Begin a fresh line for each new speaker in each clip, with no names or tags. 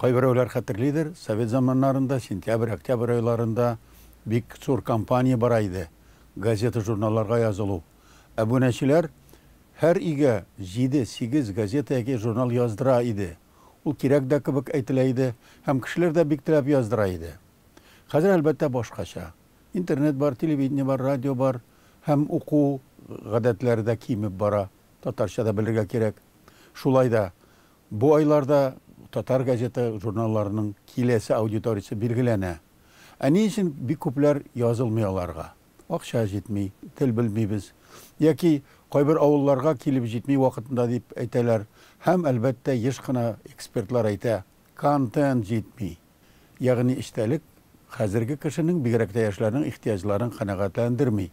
Кайберәүләр хәтерлидер, совет заманнарында сентябрь-октябрь айларында бик зур кампания бара иде, газета-журналларга язылу. Әбүнәчеләр һәр өйгә җиде-сигез газета яки журнал яздыра иде. Ул кирәк дә кебек әйтелә иде һәм кешеләр дә бик теләп яздыра иде. Хәзер, әлбәттә, башкача. Интернет бар, телевидение бар, радио бар. һәм уку гадәтләре дә кимеп бара, татарча да белергә кирәк. Шулай да, бу айларда татар газета, журналларының киләсе аудиториясе билгеләнә. Ә ни өчен бик күпләр язылмый аларга? Акча җитми, тел белмибез, яки кайбер авылларга килеп җитми вакытында дип әйтәләр. Һәм, әлбәттә, еш кына экспертлар әйтә, контент җитми. Ягъни эчтәлек хәзерге кешенең, бигрәк тә яшьләрнең ихтыяҗларын канәгатьләндерми.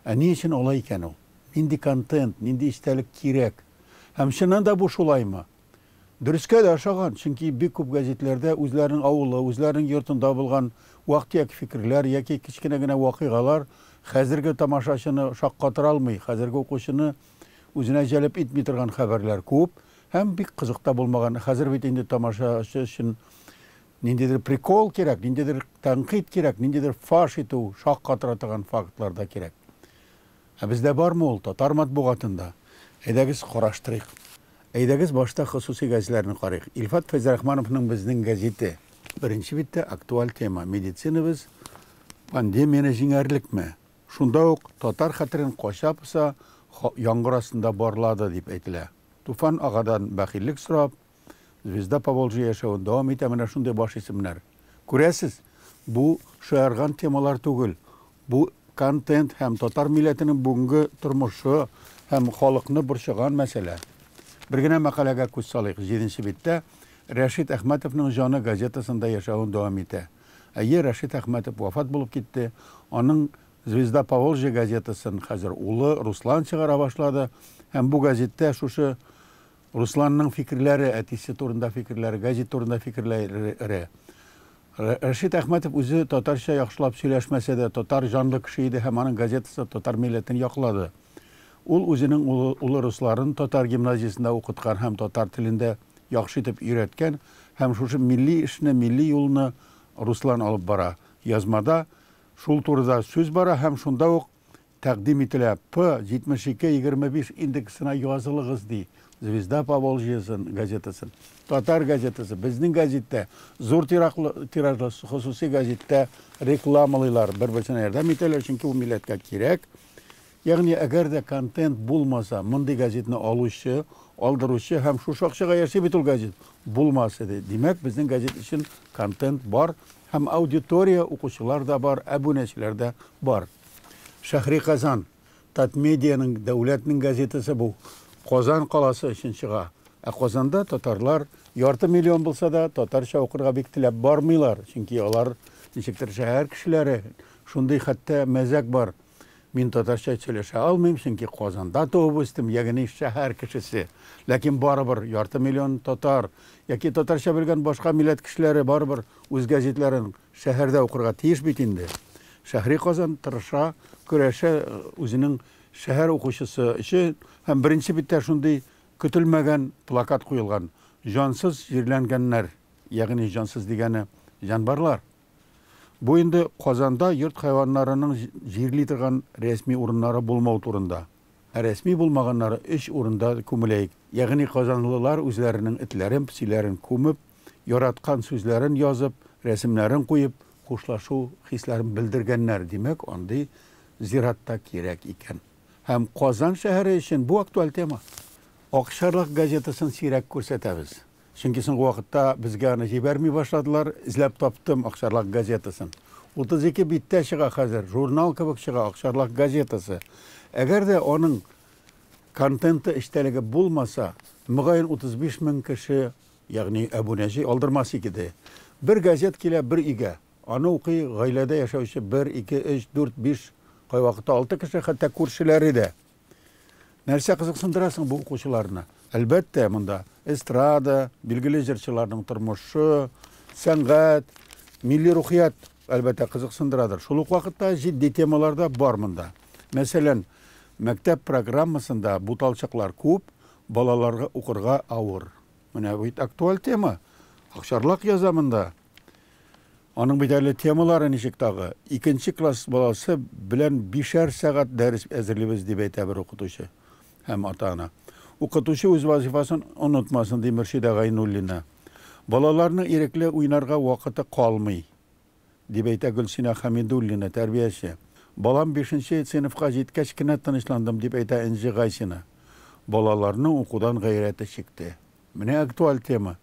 Ә ни өчен алай икән ул? Нинди контент, нинди эчтәлек кирәк? Һәм чыннан да бу шулаймы? Дөрескә дә ошаган, чөнки бик күп гәзитләрдә үзләренең авылы, үзләренең йортында булган вак-төяк фикерләр яки кечкенә генә вакыйгалар хәзерге тамашачыны шаккатыра алмый, хәзерге укучыны Үзенә җәлеп итми торган хәбәрләр күп һәм бик кызык та булмаган. Хәзер бит инде тамашачы өчен ниндидер прикол кирәк, ниндидер тәнкыйть кирәк, ниндидер фаш итү, шак катыра торган фактлар да кирәк. Ә бездә бармы ул, татар матбугатында? Әйдәгез, караштырыйк. Әйдәгез, башта хосусый гәзләрне карыйк. Илфат Фәйзрахмановның Безнең гәзите. Беренче биттә актуаль тема, медицинабыз пандемияне җиңәрлекме? Шунда ук татар хәтерен кача-поса яңгыр астында барлады дип әйтелә. Туфан агадан бәхиллек сорап, Звезда Поволжья яшәвен дәвам итә менә шундый баш исемнәр. Күрәсез, бу шаярган темалар түгел, бу контент һәм татар милләтенең бүгенге тормышы һәм халыкны борчыган мәсьәлә. Бер генә мәкаләгә күз салыйк, җиденче биттә Рәшит Әхмәтовның җаны газетасында яшәвен дәвам итә. Әйе, Рәшит Әхмәтов вафат булып китте. Аның Звезда Поволжья газетасын хәзер улы Руслан чыгара башлады. Һәм бу гәзиттә шушы Русланның фикерләре, әтисе турында фикерләре, гәзит турында фикерләре. Рәшит Әхмәтов үзе татарча яхшылап сөйләшмәсә дә, татар җанлы кеше иде һәм аның газетасы татар милләтен яклады. Ул үзенең улы улы Русларын татар гимназиясендә укыткан һәм татар телен дә яхшы итеп өйрәткән һәм шушы милли эшне, милли юлны Руслан алып бара. Язмада шул турыда сүз бара һәм шунда ук тәкъдим ителә, П. 72, 25 индексына язылыгыз, ди Звезда Поволжьесын газетасы. Татар газетасы, безнең гәзиттә, зур тираклы тиражлы хосусый гәзиттә рекламалыйлар, бер-берсенә ярдәм итәләр, чөнки ул милләткә кирәк. Ягъни, әгәр дә контент булмаса, мондый газетны алучы, алдыручы һәм шушы акчага яши бит ул газет, булмас иде. Димәк, безнең газет өчен контент бар һәм аудитория, укучылар да бар, әбүнәчеләр дә бар. Шәһри Казан, Татмедианың дәүләтнең газетасы бу. Казан каласы өчен чыга. Ә Казанда татарлар ярты миллион булса да, татарча укырга бик теләп бармыйлар, чөнки алар ничектер шәһәр кешеләре, Шундый хәтта мәзәк бар, Мин татарча сөйләшә алмыйм, чөнки Казанда туып үстем, ягъни шәһәр кешесе. Ләкин барыбер ярты миллион татар яки татарча белгән башка милләт кешеләре барыбер үз газетларын шәһәрдә укырга тиеш бит инде. Шәһри Казан тырыша, көрәшә үзенең шәһәр укучысы өчен һәм беренче биттә шундый көтелмәгән плакат куелган, Җансыз җирләнгәннәр, ягъни җансыз дигәне җанварлар. Бу инде Казанда йорт хайваннарының җирли торган рәсми урыннары булмау турында. Ә рәсми булмаганнары өч урында күмеләек, ягъни казанлылар үзләренең этләрен, песиләрен күмеп, яраткан сүзләрен язып, рәсемнәрен куеп, хушлашу хисләрен белдергәннәр, димәк, андый зират та кирәк икән. Һәм Казан шәһәре өчен бу актуаль тема. Акчарлак газетасын сирәк күрсәтәбез. Чөнки соңгы вакытта безгә аны җибәрми башладылар. Эзләп таптым Акчарлак газетасын. 32 биттә чыга хәзер, журнал кебек чыга Акчарлак газетасы. Әгәр дә аның контенты, эчтәлеге булмаса, мөгаен 35 мең кеше, ягъни әбүнәче алдырмас икеде. Бер газет килә бер өйгә. Аны укый гаиләдә яшәүче бер, ике, өч, дүрт, биш, кайвакытта алты кеше, хәтта күршеләре дә. Нәрсә кызыксындыра соң бу укучыларны? Әлбәттә, монда эстрада, билгеле җырчыларның тормышы, сәнгать, милли рухият, әлбәттә, кызыксындырадыр. Шул ук вакытта җитди темалар да бар монда. Мәсәлән, мәктәп программасында буталчыклар күп, балаларга укырга авыр. Менә бит актуаль тема. Акчарлак яза монда. Аның бит әле темалары ничек тагы? Икенче класс баласы белән бишәр сәгать дәрес әзерлибез, дип әйтә бер укытучы һәм ата-ана. Укытучы үз вазифасын онытмасын, ди Мөршидә Гайнуллина. Балаларның ирекле уйнарга вакыты калмый, дип әйтә Гөлсинә Хәмидуллина, тәрбияче. Балам бишенче сыйныфка җиткәч кенә тынычландым, дип әйтә Энҗе Гайсина. Балаларның укудан гайрәте чикте. Менә актуаль тема.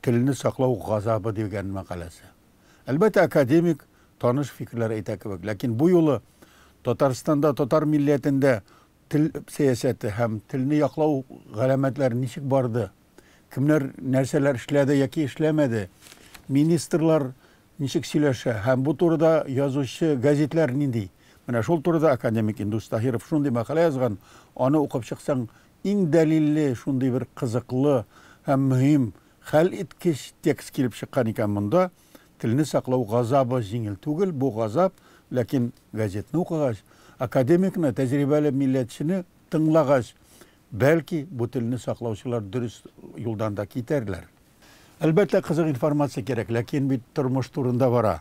Телне саклау газабы дигән мәкаләсе. Әлбәттә, академик, таныш фикерләр әйтә кебек, ләкин бу юлы Татарстанда татар милләтендә тел сәясәте һәм телне яклау галәмәтләре ничек барды, кемнәр нәрсәләр эшләде яки эшләмәде, министрлар ничек сөйләшә һәм бу турыда язучы газетләр нинди? Менә шул турыда академик Индус Таһиров шундый мәкалә язган, аны укып чыксаң, Иң дәлилле, шундый бер кызыклы һәм мөһим, хәл иткеч текст килеп чыккан икән монда, Телне саклау газабы җиңел түгел, бу газап, ләкин газетны укыгач, академикны, тәҗрибәле милләтчене тыңлагач, бәлки, бу телне саклаучылар дөрес юлдан да китәрләр. Әлбәттә, кызык информация кирәк, ләкин бит тормыш турында бара.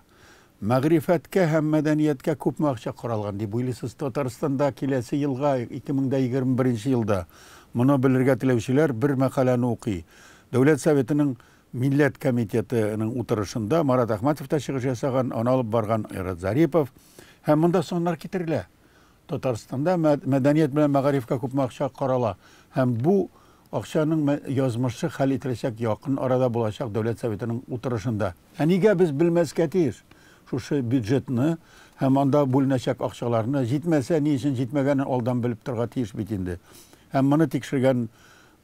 Мәгърифәткә һәм мәдәнияткә күпме акча каралган, дип уйлыйсыз Татарстанда киләсе елга, 2021 елда? Моны белергә теләүчеләр бер мәкаләне укый. Дәүләт Советының Милләт комитеты ның утырышында Марат Әхмәтов та чыгыш ясаган, аны алып барган Айрат Зарипов. Һәм монда саннар китерелә. Татарстанда мәдәният белән мәгарифкә күпме акча карала һәм бу акчаның язмышы хәл ителәчәк якын арада булачак Дәүләт Советының утырышында. Ә нигә без белмәскә тиеш шушы бюджетны һәм анда бүленәчәк акчаларны? Җитмәсә, ни өчен җитмәгәнен алдан белеп торырга тиеш бит инде. Һәм моны тикшергән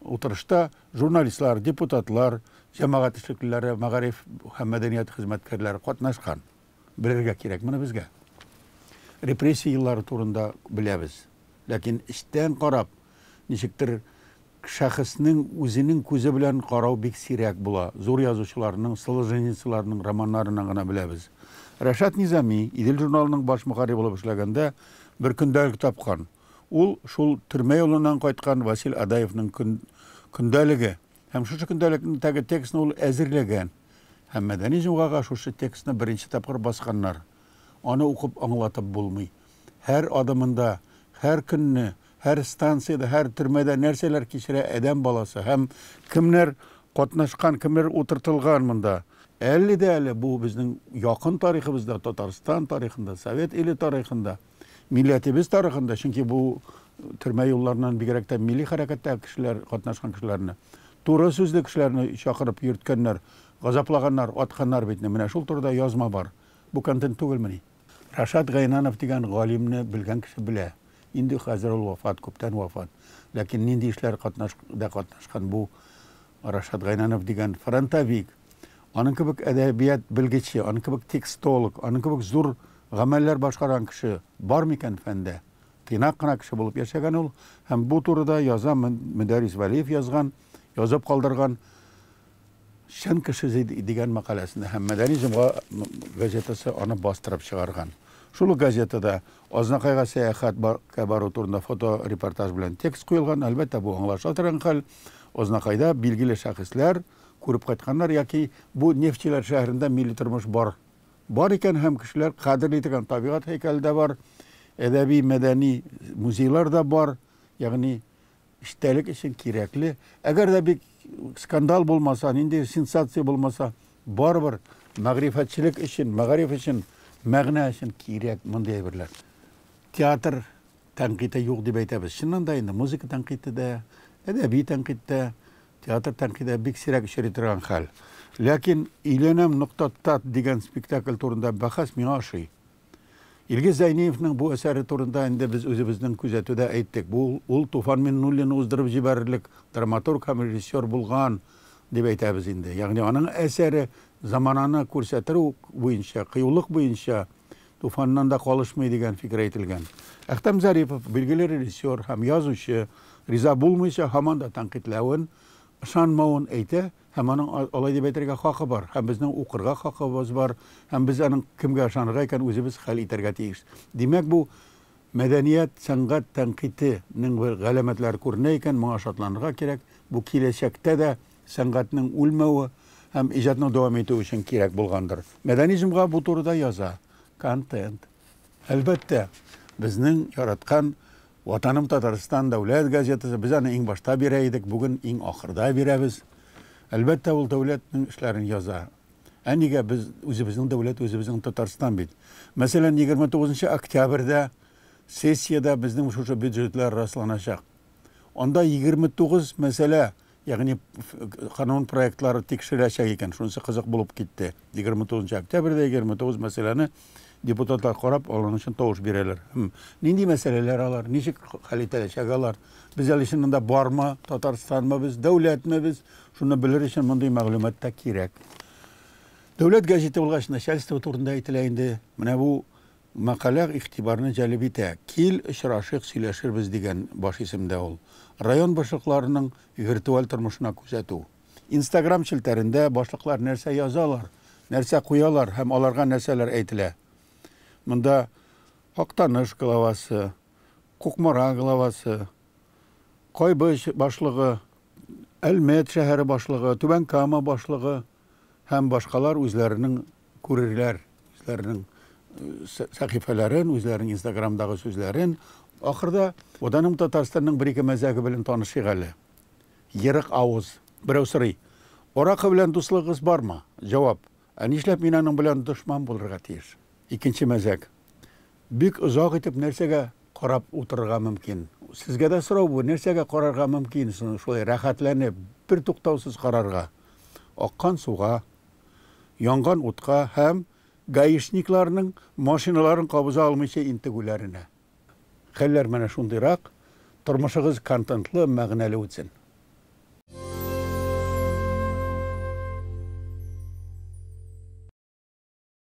утырышта журналистлар, депутатлар, җәмәгать эшлеклеләре, мәгариф һәм мәдәният хезмәткәрләре катнашкан. Белергә кирәк моны безгә. Репрессия еллары турында беләбез. Ләкин эчтән карап, ничектер шәхеснең үзенең күзе белән карау бик сирәк була. Зур язучыларның, Солженицыларның романнарыннан гына беләбез. Рәшат Низами, Идел журналының баш мөхәррире булып эшләгәндә, бер көндәлек тапкан. Ул, шул төрмә юлыннан кайткан Васил Адаевның көндәлеге. Һәм шушы көндәлектәге текстны ул әзерләгән. Һәм Мәдәни җомгага шушы текстны беренче тапкыр басканнар. Аны укып аңлатып булмый. Һәр адымында, һәр көнне, һәр станциядә, һәр төрмәдә нәрсәләр кичерә адәм баласы һәм кемнәр катнашкан, кемнәр утыртылган монда. Әле дә әле бу безнең якын тарихыбызда, Татарстан тарихында, Совет иле тарихында. милләтебез тарихында, чөнки бу төрмә юлларыннан бигрәк тә милли хәрәкәттәге кешеләр, катнашкан кешеләрне, туры сүзле кешеләрне чакырып йөрткәннәр, газаплаганнар, атканнар бит. Менә шул турыда язма бар. Бу контент түгелмени? Рашат Гайнанов дигән галимне белгән кеше белә. Инде хәзер ул вафат, күптән вафат. Ләкин нинди эшләр катнаш, да катнашкан бу Рашат Гайнанов дигән фронтовик, аның кебек әдәбият белгече, аның кебек текстолог, аның кебек зур гамәлләр башкарган кеше бар микән фәндә? Тыйнак кына кеше булып яшәгән ул, һәм бу турыда яза Мөдәрис Вәлиев язган, язып калдырган Чын кеше дигән мәкаләсендә һәм Мәдәни җомга газетасы аны бастырып чыгарган. Шул ук газетада Азнакайга сәяхәткә бару турында фоторепортаж белән текст куелган. Әлбәттә, бу аңлаша торган хәл. Азнакайда билгеле шәхесләр, күреп кайтканнар яки бу нефтьчеләр шәһәрендә милли тормыш бар бар икән һәм кешеләр кадерли торган табигать һәйкәле дә бар, әдәби-мәдәни музейлар да бар, ягъни эчтәлек өчен кирәкле. Әгәр дә бик скандал булмаса, нинди сенсация булмаса, барыбер мәгърифәтчелек өчен, мәгариф өчен, мәгънә өчен кирәк мондый әйберләр. Театр тәнкыйте юк дип әйтәбез. Чыннан да инде музыка тәнкыйте дә, әдәби тәнкыйть тә, Театр тәнкыйде бик сирәк очрый торган хәл. Ләкин Өйләнәм, нокта тат дигән спектакль турында бәхәс миңа ошый. Илгиз Зәйниевның бу әсәре турында инде без үзебезнең күзәтүдә әйттек. Бу ул Туфан Миннуллин уздырып җибәрерлек драматург һәм режиссер булган, дип әйтәбез инде. Ягъни аның әсәре замананы күрсәтер буенча, кыюлык буенча Туфаннан да калышмый дигән фикер әйтелгән. Әхтәм Зарипов, билгеле режиссер һәм язучы, риза булмыйча, һаман да тәнкыйтьләвен, ышанмавын әйтә һәм аның алай дип әйтергә хакы бар һәм безнең укырга хакыбыз бар һәм без аның кемгә ышанырга икәнен үзебез хәл итәргә тиеш. Димәк, бу мәдәният, сәнгать тәнкыйтенең бер галәмәтләре күренә икән, моңа шатланырга кирәк. Бу киләчәктә дә сәнгатьнең үлмәве һәм иҗатның дәвам итүе өчен кирәк булгандыр. Мәдәни җомга бу турыда яза. Контент. Әлбәттә, безнең яраткан Ватаным Татарстан дәүләт газетасы, без аны иң башта бирә идек, бүген иң ахырда бирәбез. Әлбәттә, ул дәүләтнең эшләрен яза. Ә нигә? Без, үзебезнең дәүләт, үзебезнең Татарстан бит. Мәсәлән, 29 нчы октябрьдә сессиядә безнең шушы бюджетлар расланачак. Анда 29 мәсьәлә Ягъни канун проектлары тикшереләчәк икән, шунысы кызык булып китте. 29 нчы октябрьдә 29 мәсьәләне депутатлар карап, аларның өчен тавыш бирәләр. Хм, нинди мәсьәләләр алар, ничек хәл ителәчәк алар? Без әле чыннан да бармы, Татарстанмы без, дәүләтме без? Шуны белер өчен мондый мәгълүмат та кирәк. Дәүләт газеты булгач, начальство турында әйтелә инде. Менә бу Мәкалә игътибарны җәлеп итә, Кил, очрашыйк, сөйләшербез, дигән баш исемдә ул. Район башлыкларының виртуаль тормышына күзәтү. Инстаграм челтәрендә башлыклар нәрсә язалар, нәрсә куялар һәм аларга нәрсәләр әйтелә? Монда Актаныш главасы, Кукмара главасы, Кайбыч башлыгы, Әлмәт шәһәре башлыгы, Түбән Кама башлыгы, һәм башкалар үзләренең күрерләр, үзләренең сәхифәләрен, үзләренең инстаграмдагы сүзләрен. Ахырда Ватаным Татарстанның бер-ике мәзәге белән танышыйк әле. Ерык авыз. Берәү сорый. Аракы белән дуслыгыгыз бармы? Җавап. Ә нишләп мин аның белән дошман булырга тиеш? Икенче мәзәк. Бик озак итеп нәрсәгә карап утырырга мөмкин? Сезгә дә сорау бу, нәрсәгә карарга мөмкин шулай рәхәтләнеп, бертуктаусыз карарга? аккан суга, янган утка һәм гаишникларның машиналарын кабыза алмыйча интегүләренә. Хәлләр менә шундыйрак, тормышыгыз контентлы, мәгънәле үтсен!